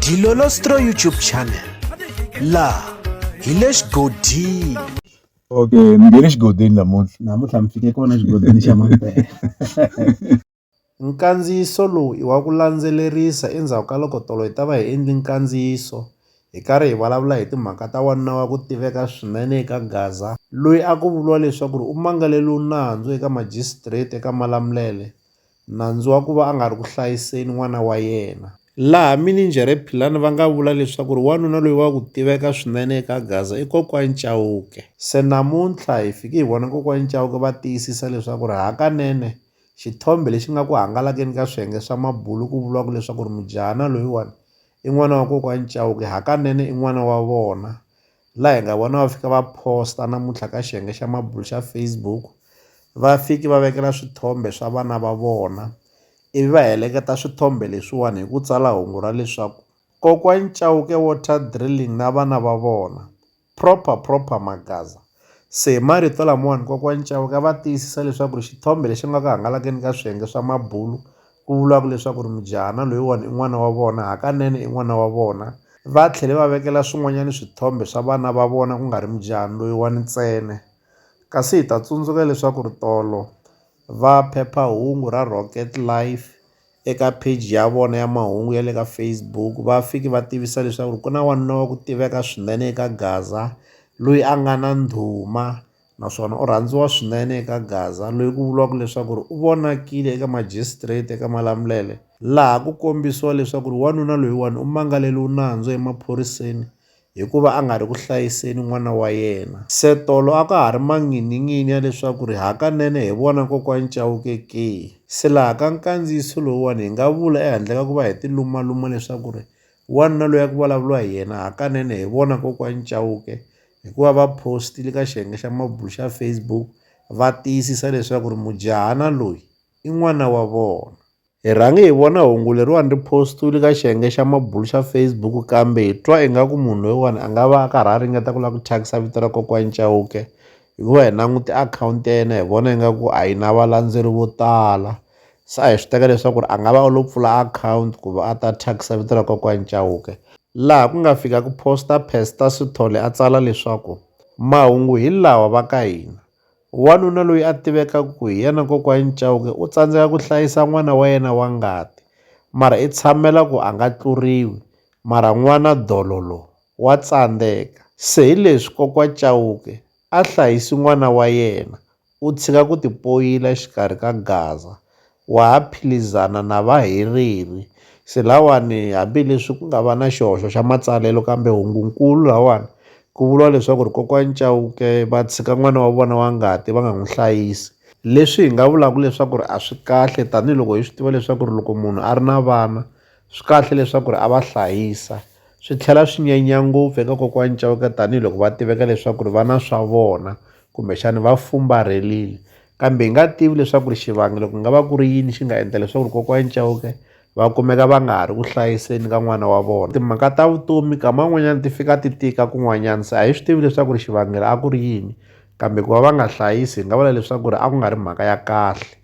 Dilolostro YouTube channel la hi le xigodini okay mi nge le xigodini namuntlha namuntlha mi fike kona xigodini xa mampela nkandziyiso lowu i wa ku landzelerisa endzhaku ka loko tolo hi ta va hi endli nkandziyiso hi karhi hi vulavula hi timhaka ta wanuna wa ku tiveka swinene eka gaza loyi a ku vuriwa leswaku ri u mangaleliwe nandzu eka majistrate eka malamulele nandzu wa ku va a nga ri ku hlayiseni n'wana wa yena. Laha mininjhere Philani va nga vula leswaku wanuna loyi wa ku tiveka swinene eka Gaza i Kokwani Chauke. Se namuntlha hi fike hi vona Kokwani Chauke va tiyisisa leswaku hakanene xithombe lexi nga ku hangalakeni ka swiyenge swa mabulu ku vuriwaka leswaku mujahana loyiwani i n'wana wa Kokwani Chauke hakanene i n'wana wa vona la hi nga vona va fika va post-a namuntlha ka xiyenge xa mabulo xa Facebook va fiki va vekela swithombe swa vana va vona ivi va heleketa swithombe leswiwani hi ku tsala hungu ra leswaku kokwani Chauke water drilling na vana va vona proper proper magaza se hi marito lamawani kokwani Chauke va tiyisisa leswaku ri xithombe lexi nga ku hangalakeni ka swiyenge swa mabulo ku vulaka leswaku ri mujahana loyiwani i n'wana wa vona, hakanene i n'wana wa vona, va tlhele va vekela swin'wanyana swithombe swa vana va vona ku nga ri mujahana loyiwani ntsena. Kasi hi ta tsundzuka leswaku ri tolo va phepha-hungu ra Rocket Life eka page ya vona ya mahungu ya le ka Facebook va fike va tivisa leswaku ri ku na wanuna wa ku tiveka swinene eka Gaza loyi a nga na ndhuma naswona u rhandziwa swinene eka Gaza loyi ku vuriwaka leswaku u vonakile eka majisitireti eka malamulele laha ku kombisiwa leswaku wanuna loyiwani u mangaleliwe nandzu emaphoriseni hikuva a nga ri ku hlayiseni n'wana wa yena. Se tolo a ka ha ri manghininghini ya leswaku hakanene hi vona Kokwani Chauke ke? Se laha ka nkandziyiso lowuwani hi nga vula ehandle ka ku va hi tilumaluma leswaku wanuna loyi a ku vulavuriwa hi yena hakanene hi vona Kokwani Chauke hi ku va va post-ile ka xiyenge xa mabulo xa Facebook va tiyisisa leswaku ri mujahana loyi i n'wana wa vona. Hi rhange hi vona hungu leriwani ri post-iwile ka xiyenge xa mabulo xa Facebook kambe hi twa ingaku munhu loyiwani a nga va a karhi a ringeta ku lava ku thyakisa vito ra kokwani Chauke hikuva hi langute akhawunti ya yena hi vona ingaku a yi na valandzeri vo tala se a hi swi teka leswaku a nga va u lo pfula akhawunti ku va a ta thyakisa vito ra kokwani Chauke laha ku nga fika ku posta Pastor Sithole a tsala leswaku mahungu hi lawa va ka hina wanuna loyi a tivekaka ku hi yena kokwani Chauke u tsandzeka ku hlayisa n'wana wa yena wa ngati mara i tshamela ku a nga tluriwi mara n'wana dololo wa tsandzeka se hi leswi kokwa Chauke a hlayisi n'wana wa yena u tshika ku tipoyila exikarhi ka gaza, wa ha philizana na vahereri. Se lawani, hambi leswi ku nga va na xihoxo xa matsalelo, kambe hungu-nkulu lawani, ku vuriwa leswaku ri Kokwani Chauke va tshika n'wana wa vona wa ngati va nga n'wi hlayisi. Leswi hi nga vulaka leswaku ri a swi kahle, tanihi loko hi swi tiva leswaku ri loko munhu a ri na vana, Swi kahle leswaku ri a va hlayisa swi tlhela swi nyanya ngopfu eka kokwani Chauke tanihiloko va tiveka leswaku ri va na swa vona kumbexani va fumbarhelini kambe hi nga tivi leswaku ri xivangelo ku nga va ku ri yini xi nga endla leswaku ri kokwani Chauke va kumeka va nga ha ri ku hlayiseni ka n'wana wa vona timhaka ta vutomi kama n'wanyana ti fika ti tika kun'wanyana se a hi swi tivi leswaku ri xivangelo a ku ri yini kambe ku va va nga hlayisi hi nga vula leswaku ri a ku nga ri mhaka ya kahle.